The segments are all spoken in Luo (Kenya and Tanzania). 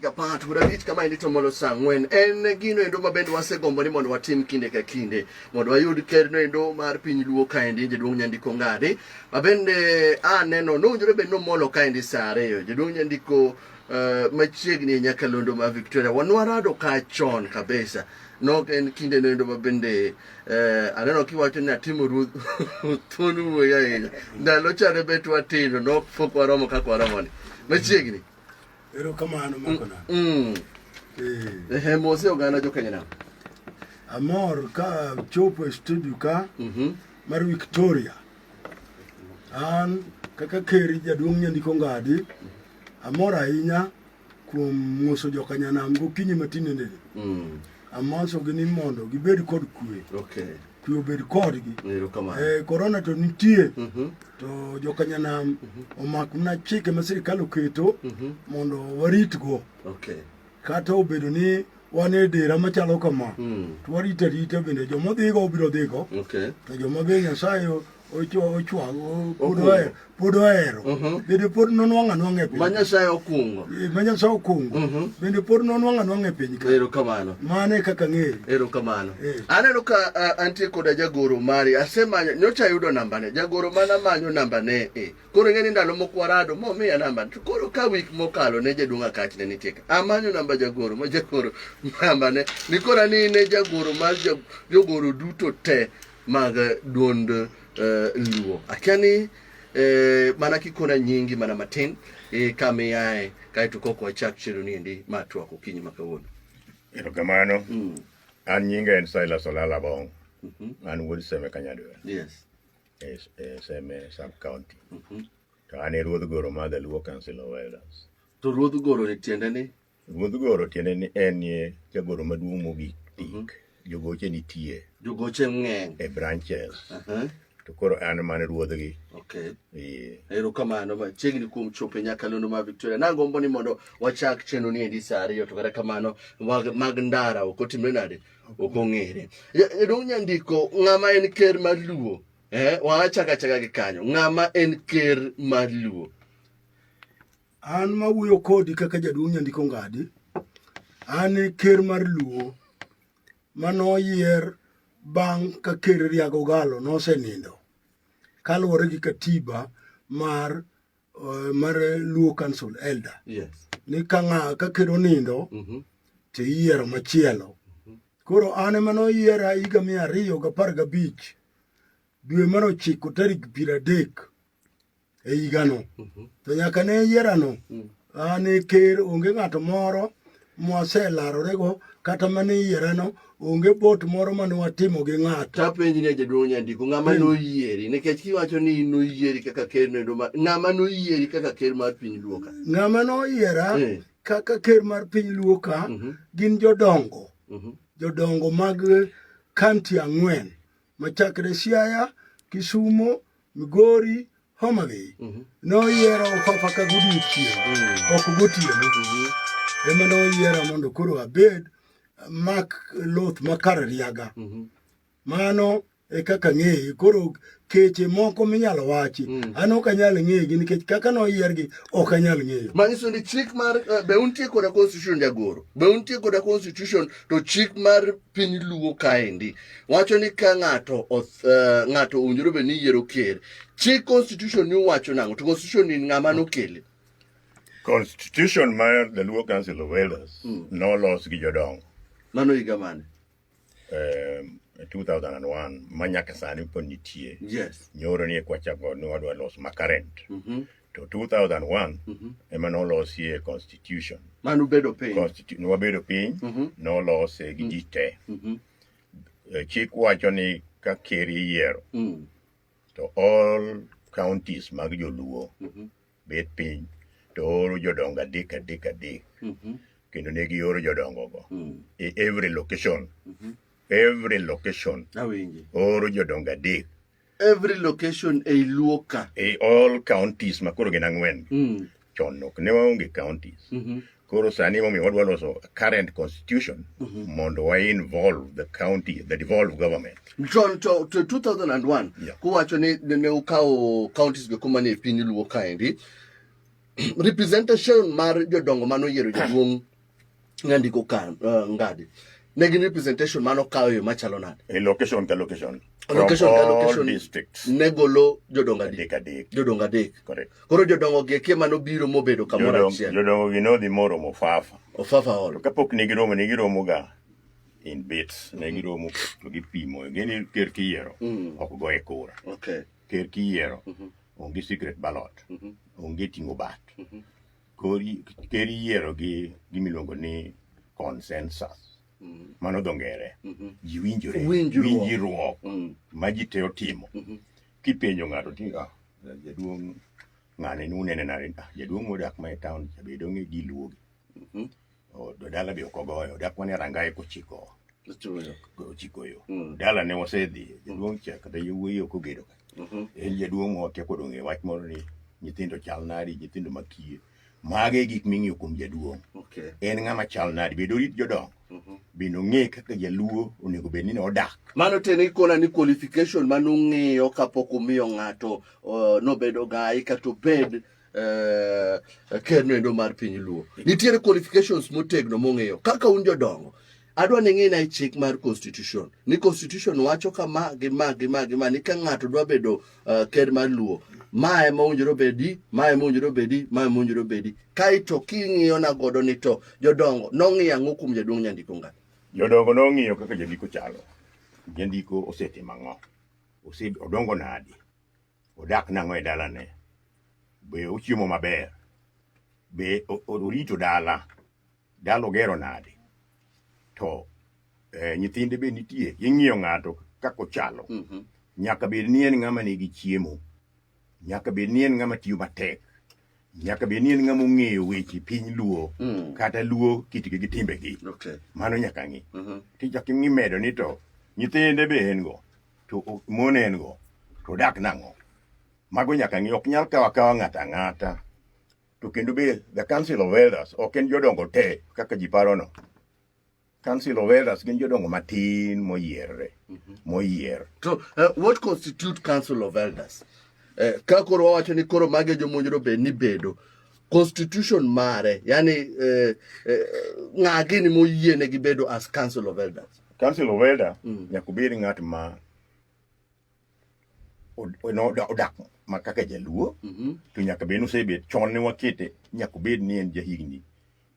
Ka part bura lit kama e lito molo saa ang'wen en gino endo ma bende wasegombo ni mondo watim kinde ka kinde mondo wayud kerno endo mar piny luo kaendi jaduong' nyandiko ng'adi ma bende aneno nowinjore bed nomolo kaendi saa ariyo jaduong' nyandiko uh, machiegni e nyakalondo ma victoria wanwarado ka chon kabisa nok en kinde noendo ma bende eh, aneno kiwacho ni atimo ruoth thuon wuoyi ahinya ndalo chane bet watindo nok pok waromo kaka waromoni machiegni Erokamano Makona. Mm. Eh. Ehe, mose oganda jo Kenya nam. Amor ka chopo e studio ka Mhm. mar Victoria. An kaka keri jaduong' nyandiko ngadi amor ahinya kuom ng'uso jokanyanam gokinyi matinendeni Mm. amosogi ni mondo gibed kod kwe Okay. kwe obed kodgi. Erokamano. Eh, korona to nitie Mhm. to jokanyanam omak mana chike ma sirikal oketo Mhm. mondo waritgo Okay. kata obedo ni wan e dera machalo kama Mm. to warito arita bende joma odhigo obiro dhigo Okay. to joma be nyasaye ochwango pod ohero mhm. bende pod nonwang'o anwang'a e piny ma nyasaye okungo eh, ma nyasaye okungo mhm. bende pod nonwang'o anwang'a e piny ero kamano mano e kaka ng'eyo ero kamano eh. aneno ka antie koda jagoro mari asemanyo nyocha ayudo nambane jagoro mana manyo nambane e koro ing'e ni ndalo mokwarado momiya namba to koro ka wik mokalo ne jaduong' akach ne nitie ka amanyo namba jagoro ma jagoro nambane ni kora ni ne jagoro mar jogoro duto te mag duond uh, Luo. Akia ni eh, mana kikona nyingi mana matin eh, kama iyae kaeto kok wachak chero ni endi ma twak okinyi ma kawuono. Erokamano. Mm. An nyinga en Silas Olala Bong. Mm -hmm. An wuod Seme Kanyadwe. Yes. E, e Seme sub county. Mm -hmm. To an e ruodh goro ma the Luo Council of Elders. To ruodh goro ni tiende ni? Ruodh goro tiende ni en ye jagoro maduong' mogik tik. Jogoche nitie Jogoche ng'eny. e branches Aha, to koro an mane ruodhgi. Okay. Ee. Erokamano machiegni kuom chopo e nyakalondo ma Victoria. Nagombo ni mondo wachak chenro ni endi saa ariyo to kata kamano mag, mag ndara ok otimre nade ok ong'ere. Ja- Jaduong' Nyandiko, ng'ama en ker mar Luo? Eh, wachaka chaka gi kanyo. Ng'ama en ker mar Luo? An mawuoyo kodi kaka jaduong' Nyandiko Ngadi, an e ker mar Luo mane oyier bang' ka ker Riago Galo nosenindo kaluwore gi katiba mar eh, mar Luo Council Elder Yes. ni ka ng'a ka ker onindo Mhm. to iyiero machielo. Koro an ema noyiera higa mia ariyo gapar gabich dwe mar ochiko tarik piero adek e higano mhm. to nyaka ne yierano mm. an e ker onge ng'ato moro mwaselarorego kata mane yierano onge bot moro mane watimo gi ng'ato tapenji ne jaduong' nyandiko ng'ama hmm. noyieri nikech kiwacho ni noyieri kaka ker nendo ng'ama noyieri kaka ker mar piny luoka ng'ama noyiera hmm. kaka ker mar piny luoka mhm. gin jodongo mhm. jodongo mag kanti ang'wen machakre Siaya, Kisumo, Migori, Homa Bay mhm. noyiero Fafa ka godiechieng' mhm. ok gotieno mhm. ema noyiera mondo koro abed mak loth makar riaga mano e kaka ng'eye koro keche moko minyalo wachi mm. an ok anyal ng'egi nikech kaka noyiergi ok anyal ng'eyo manyiso ni chik mar eh, be untie koda constitution jagoro be untie koda constitution to chik mar piny luo kaendi wacho ni ka ng'ato eh, ng'ato owinjore bed ni yiero ker chi constitution ni wacho nang'o to constitution ni ng'ama nokele constitution mar the luo council of elders mm. nolos gi jodongo mano higa mane eh, 2001 ma nyaka sani pod nitie yes. nyoro ni kwachako ni wadwa los makarent mm -hmm. to 2001 mm -hmm. ema nolosie constitution mane ubedo piny Constitu nwabedo piny mm -hmm. nolose gi mm. ji te mm -hmm. Eh, chik wacho ni ka ker iyiero mm. to all counties mag joluo mm -hmm. bet piny to oro jodongo adek adek adek mm -hmm. kendo ne gioro jodongogo mm. e every location mm -hmm. every location oro jodongo adek every location ei luo ka e all counties ma koro gin ang'wen mm. chon ok ne waonge counties mm -hmm. koro sani momiyo wadwa loso current constitution mm -hmm. mondo wa involve the county the devolve government chon to, to 2001 yeah. kuwacho ni ne ukawo counties go kuma ni e piny luo kaendi representation mar jodongo mano yiero jaduong' nandiko ka uh, ngadi ne gin representation mano kawo yo machalo nade e location ka location location ka location districts ne golo jodongo adek adek jodongo adek correct koro jodongo gi kie mano biro mobedo kamoro achiel jodongo gi nodhi moro mofafa ofafa hall kapok ne giromo ne giromo ga in bits ne giromo to gipimo gini ker kiyiero mm. ok go e kura okay ker kiyiero mm-hmm. onge secret ballot mm-hmm. onge tingo bat mm-hmm. Ker iyiero gi gima iluongo ni consensus. Mm. Mano dho ngere. Mm-hmm. Ji winjore. Winjruok. Mm. Ma ji te otimo. Mm-hmm. Kipenjo ng'ato ti ah, jaduong' ng'ane ni unene nare. Ah, jaduong' modak ma e taon cha bedo ng'e giluogi. Mm-hmm. Dala be ok ogoyo, dak mane rangaye kochiko ochiko yo. Mm. Dala ne wasedhi, jaduong' cha kata yowuoyi ok ogedo ka. Mm-hmm. En jaduong' ote kod ong'e wach moro ni nyithindo chal nadi, nyithindo makiye. Mage e gik ming'iyo kuom jaduong'. En ng'ama chal nadi, bedo rit jodongo. Mm-hmm. Bende ong'e kaka jaluo onego bed ni odak. Mano tene ikona ni qualification mano ung'iyo kapok umiyo ng'ato uh, nobedo gai kata obed eh, ker noendo mar piny luo nitiere qualifications motegno mong'eyo kaka un jodongo adwa ni ng'ina e chik mar constitution ni constitution wacho kama gi ma gi ma gi ma ni ka ng'ato dwa bedo uh, ker mar luo ma ema owinjore obedi ma ema owinjore obedi ma ema owinjore obedi kaeto king'iyo na godo ni to jodongo nong'iyo ang'o kuom jaduong' nyandiko ngani jodongo nong'iyo kaka jandiko chalo jandiko osetimo ang'o odongo nadi Odak nang'o e dalane? Be ochiemo maber? Be o- o- orito dala? Dala ogero nade? To eh, nyithinde be nitie. Ing'iyo ng'ato kaka ochalo. Mhm. Nyaka bed ni en ng'ama nigi chiemo. Nyaka bed ni en ng'ama tiyo matek. nyaka bed ni en ng'ama ong'eyo weche piny luo mm. kata luo kitgi gi timbegi okay. mano nyaka ng'i mm -hmm. tichak ing'i medo ni to nyithinde be en go to mon en go to odak nang'o mago nyaka ng'i ok nyal kawa kawa ng'ata ng'ata to kendo be the council of elders ok en jodongo te kaka ji parono Council of Elders gin jodongo matin moyierre mhm. moyier. To uh, what constitute Council of Elders? Uh, ka koro wawacho ni koro mage jomonjro be ni bedo constitution mare yani uh, uh, ng'a gini moyiene gi bedo as Council of Elders? Council of Elders mm. nyaka obed ng'at ma odak ma kaka jaluo mhm. to nyaka bed nosebet chon ne wakete nyaka obed ni en jahigni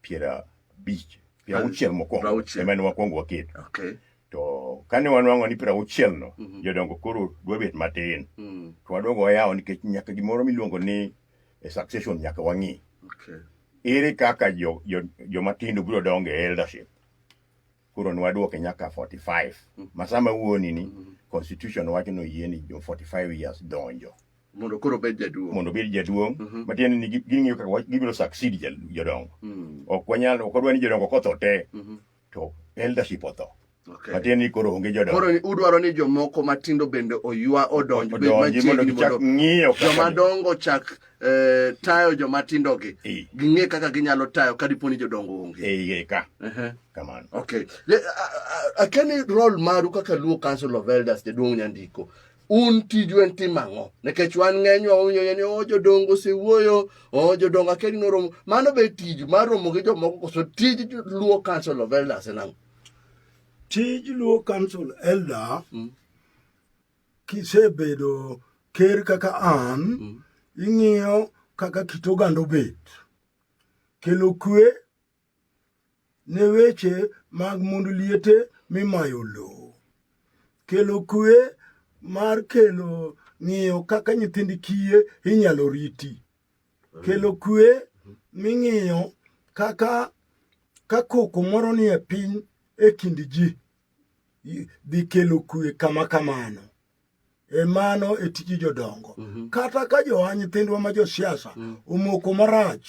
piero abich piero auchiel mokwongo ema ne wakwongo waketo to kane wanwang'o ni piero auchiel no mhm. jodongo koro dwa bet matin mm. to wadogo wayawo nikech nyaka gimoro miluongo ni e succession nyaka wang'i ere kaka jomatindo biro dongo e eldership koro nwadwoke nyaka 45 mm. masama wuoni ni mm. constitution wacho ni oyie ni jo 45 years donjo mondo koro obed jaduong' mondo obed jaduong' mm -hmm. matiende ni ging'iyo kaka gibiro succeed jodongo mm. ok wanyal ok wadwa ni jodongo kotho te mm -hmm. to eldership otho Okay. Matin ni koro onge jodongo. Koro udwaro ni jomoko matindo bende oywa odonj bed machiegni mondo ng'iyo joma dongo chak eh, tayo joma tindo gi Eh. ging'e kaka ginyalo tayo ka dipo ni jodongo onge e iye ka Ehe. kamano okay Le- a- a- akeni rol maru kaka luo council of elders jaduong' nyandiko un tiju en timo ang'o nikech wan ng'enywa wawinjo ni o jodongo osewuoyo o jodongo akeni noromo mano be tiju mar romo gi jomoko koso tij jo- luo council of elders en ang'o tij luo council elder kisebedo ker kaka an mm. ing'iyo kaka kit oganda obet kelo kwe ne weche mag mond liete mimayo lowo kelo kwe mar kelo ng'iyo kaka nyithind kiye inyalo riti kelo kwe ming'iyo kaka ka koko moro nie piny e kind ji dhi kelo kwe kama kamano e mano e tiji jodongo mm -hmm. kata ka joa nyithindwa ma josiasa mm -hmm. omoko marach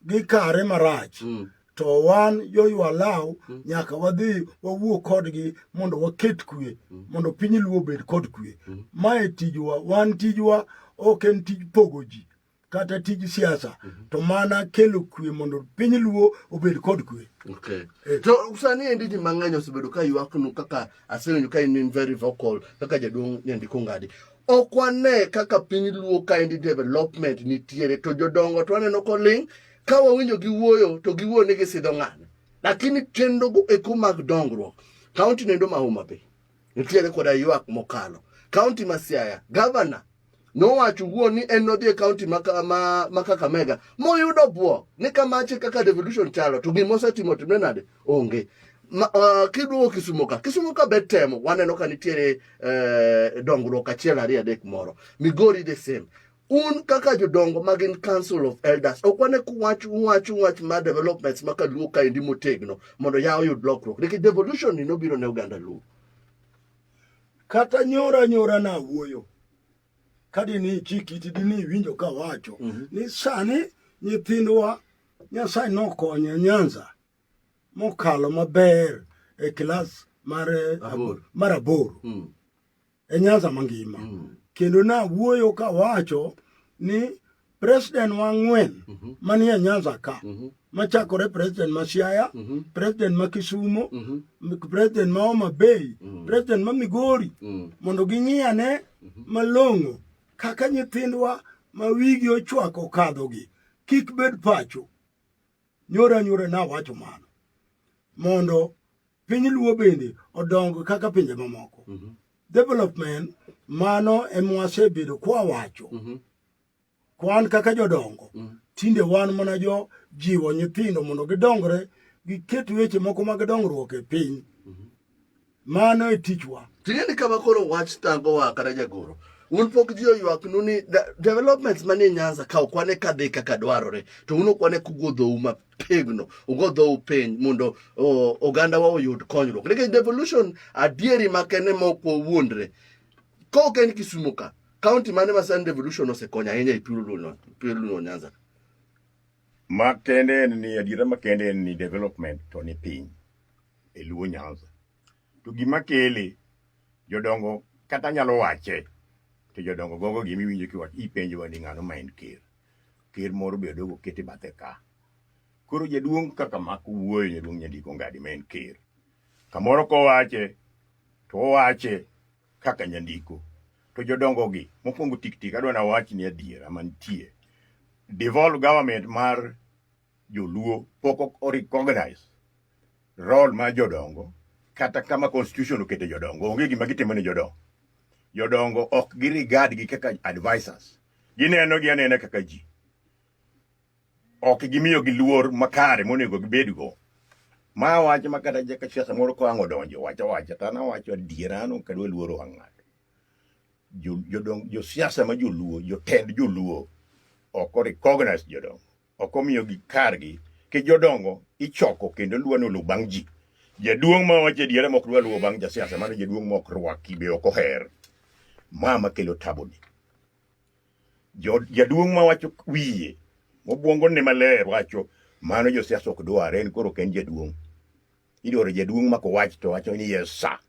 gi kare marach mm -hmm. to wan joywa law mm -hmm. nyaka wadhi wawuo kodgi mondo waket kwe mm -hmm. mondo piny luo obed kod kwe mm -hmm. mae tijwa wan tijwa ok en tij pogo ji kata tij siasa mm -hmm. to mana kelo kwe mondo piny luo obed kod kwe okay. eh. to sani endi ji mang'eny osebedo ka ywaknu kaka aseneno ka in very vocal kaka jaduong' nyandiko ngadi ok wane kaka piny luo ka endi development nitiere to jodongo to aneno koling' ka wawinjo giwuoyo to giwuoyo ni gisidho ng'ane lakini chenrogo eko mag dongruok kaunti nendo ma Homa Bay nitiere koda ywak mokalo. Kaunti ma Siaya, gavana nowacho wuon ni en nodhi e kaunti ma Kakamega moyudo bwok ni kamache kaka devolution chalo to gima osetimo timne nade onge ma, uh, kiduogo Kisumo ka Kisumo ka bet temo waneno ka nitiere uh, dongruok achiel ariyo adek moro Migori the same un kaka jodongo ma gin council of elders ok wane kuwach uwach uwach ma developments ma kaluo kaendi motegno mondo ya oyud lokruok nikech devolution ni nobiro ne oganda luo kata nyora nyora na wuoyo kadi ni ichik iti dini iwinjo ka wacho mm -hmm. ni sani nyithindwa nyasaye nokonyo nyanza mokalo maber e kilas mar aboro mm. e Nyanza mangima mm. kendo nawuoyo kawacho ni president wa ng'wen mm -hmm. manie Nyanza ka mm -hmm. machakore president ma Siaya mm -hmm. president ma Kisumo mm -hmm. president ma Homa Bay mm -hmm. president ma Migori mm -hmm. mondo ging'iyane mm -hmm. malong'o kaka nyithindwa ma wigi ochwako kadhogi kik bed pacho nyora nyora nawacho mano mondo piny luo bende odong kaka pinje mamoko mm -hmm. development mano emwasebedo kwawacho mm -hmm. kwan kaka jodongo mm -hmm. tinde wan mana jo jiwo nyithindo mondo gidongre giket weche moko mag dongruok e piny mm -hmm. mano e tichwa ting'eni kama koro wach tangowa kata jagoro un pok ji oywaknu ni developments manie nyanza ka okwane kadhi kaka dwarore to un okwane kuguodhou mapiyo tegno ugo dhou piny mondo ogandawa oyud konyruok nikech devolution adieri makene mok wawuondre ka ok en kisumu ka kaunti mane ma sani devolution osekonyo ahinya e pioluno nyanza makende en ni adiera makende en ni development to ni piny e luo nyanza To gima kele, jodongo kata nyalo wache, to jodongo gogo gima iwinjo kiwach ipenjowa ni ng'ano ma en ker. Ker moro be odogo kete bathe ka. Koro jaduong' kaka mak wuoyo jaduong' nyandiko ngadi ma en ker. Kamoro kowache, to owache kaka nyandiko. To jodongo gi, mokwongo tik tik adwa nawachni adiera mantie. Devolve government mar Joluo pok o recognize role mar jodongo kata kama constitution okete jodongo onge gima gitimo ne jodongo. Jodongo ok gi regard gi kaka advisors. Gineno gi anena kaka ji. Ok gimiyo gi luor makare monego gibed go. Ma wach ma kata jaka siasa moro ko ango donjo wacho wacha tana wacho adiera no kadwa luoro ang'at. Jodongo jo siasa ma joluo jotend joluo ok o recognize jodongo. Ok omiyogi kargi. Nikech jodongo ichoko kendo luwa ni oluw bang' ji. Jaduong' ma wacho adiera mok dwa luwo bang' jasiasa mano jaduong' mok rwaki be ok oher. Ma makelo tabuni. Jo- Jaduong' ma wacho wiye obwongo ne maler wacho mano josiasa ok dware en koro ok en jaduong'. Idwaro jaduong' mako wach to wacho ni yes sir.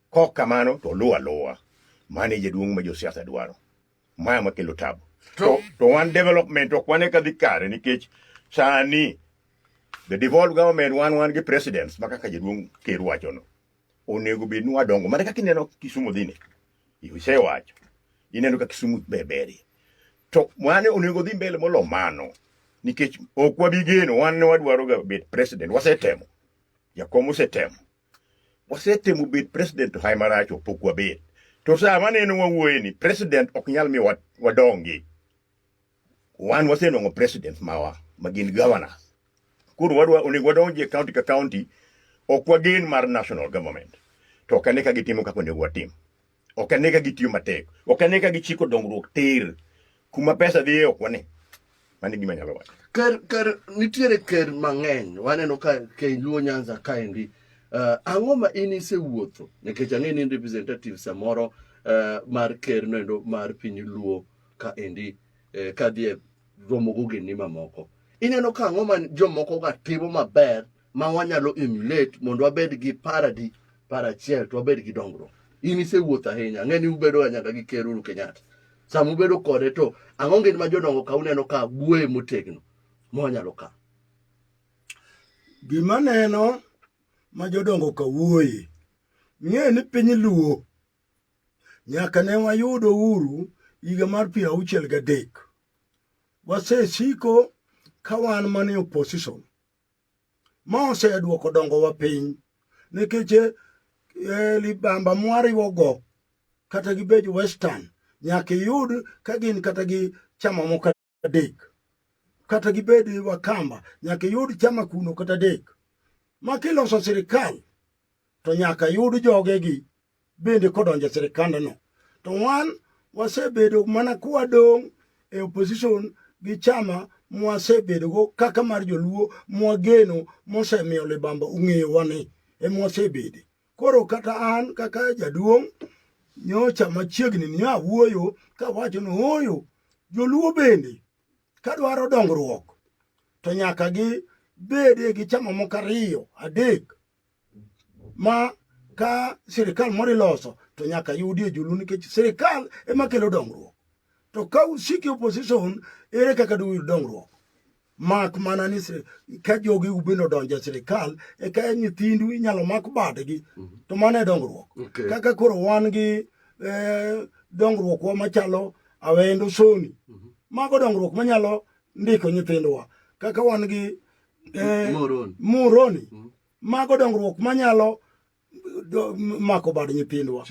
Kok kamano to oluwo aluwa. Mano e jaduong' ma josiasa dwaro. maya makelo tabu to, to wan development ok wane ka dhi kare nikech sani the devolved government wan wan gi presidents ma kaka jaduong' ker wachono onego bed ni wadongo mana kaka ineno kisumu dhine isewacho ineno ka kisumu beberie to mane onego dhi mbele molo mano nikech ok wabigeno wan ne wadwaroga bet president wasetemo jakom osetemo wasetemo bet president hai marach opok wabet to saa maneno wawuoye ni president ok nyal mi wadongi wan wasenwang'o president mawa ma gin governor koro wadwa onego wadonji e county ka county ok wagen mar national government to kane ka gitimo kaka onego watim Ok ane ka gitiyo matek. Ok ane ka gichiko dongruok tir. Kuma pesa dhiye ok wane. Mano e gima anyalo wacho. Ker, ker, nitiere ker mang'eny. Waneno ka Ker Luo Nyanza kaendi. Uh, ang'o ma in isewuotho? Nikech ang'e ni in representative samoro uh, mar ker noendo mar piny Luo kaendi uh, kadhi e romo gogendni mamoko. Ineno ka ang'o ma jomoko ga timo maber ma wanyalo emulate mondo wabed gi paradi para achiel to wabed gi dongruok in isewuotho ahinya ang'e ni ubedo nyaka gi ker Uhuru Kenyatta sama ubedo kode to ang'o ngin ma jodongo ka uneno ka buoye motegno ma wanyalo ka gima neno ma jodongo ka wuoye ng'e ni piny luo nyaka ne wayudo uru higa mar piero auchiel gadek wasesiko ka wan mane opposition Ma osedwoko dongowa piny nikech eh, eh, libamba mwariwogo kata gi bej western nyaka iyud ka gin kata gi chama moko adek kata gibed wakamba nyaka iyud chama kuno kata adek ma kiloso sirikal to nyaka yud jogegi bende kodonjo e sirikandno. To wan wasebedo mana kwadong' e opposition gi chama mwasebedogo kaka mar joluo mwageno mosemiyo libamba ong'eyowa ni emwasebede. Koro kata an kaka jaduong' nyocha machiegni ni awuoyo kawacho ni ooyo joluo bende kadwaro dongruok to nyaka gi bede gi chama moko ariyo adek ma ka sirikal moro iloso to nyaka yudi ojulu nikech sirikal ema kelo dongruok to ka usiki opposition ere kaka duyud dongruok mak mana ni ka jogi ubende odonjo e sirikal eka nyithindu inyalo mak badgi mhm. to mano e dongruok kaka koro wan gi e, dongruokwa machalo awendo soni mhm. mago dongruok manyalo ndiko nyithindwa kaka wan gi eh, Moroni, Moroni. Mm. mago dongruok manyalo mako bad nyithindwa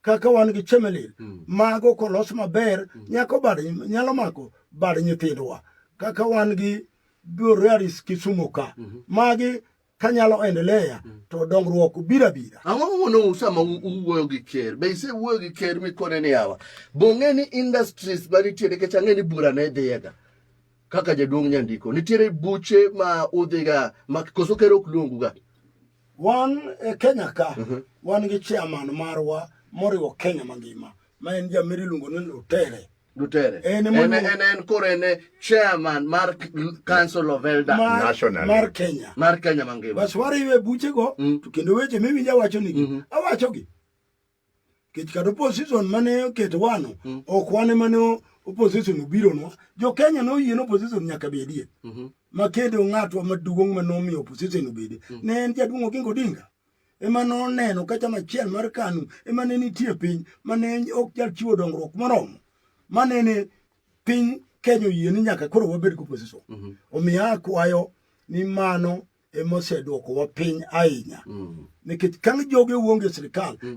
kaka wan gi chemelil mm. mago kolos maber mm. nyako bad nyalo mako bad nyithindwa kaka wan gi Borealis Kisumu ka mm -hmm. magi kanyalo endelea mm. to dongruok bira bira ang'o momono sama uwuoyo gi ker be ise wuoyo gi ker mikone ni awa bong'e ni industries manitiere kech ang'e ni bura ne dhiyega kaka jaduong' nyandiko nitiere buche ma udhiga ma koso ker ok luonguga wan e kenya ka uh mhm. -huh. wan gi chairman marwa moriwo kenya mangima ma en jamiri iluongo ni lutere Lutere. En en en en koro en chairman mar Council of Elder mar, National mar Kenya. Mar Kenya mangima. Bas wariwe buche go mm. to kendo weche miwinja wacho nigi. Mm -hmm. Awacho gi. kech kata opposition mane oketo wano mm. ok wane mane opposition obiro nwa jo Kenya no yien opposition nyaka be die mm -hmm. makedo ng'atwa maduong' ma nomiyo opposition obede mm. ne en jaduong' Oginga Odinga ema noneno ka chama achiel mar KANU ema ne nitie piny mane ok jal chiwo dongruok moromo manene piny Kenya oyie ni nyaka koro wabed gi opposition mm -hmm. omiyo akwayo ni mano emoseduoko wa piny ahinya mm. nikech kang' joge wuonge sirikal mm.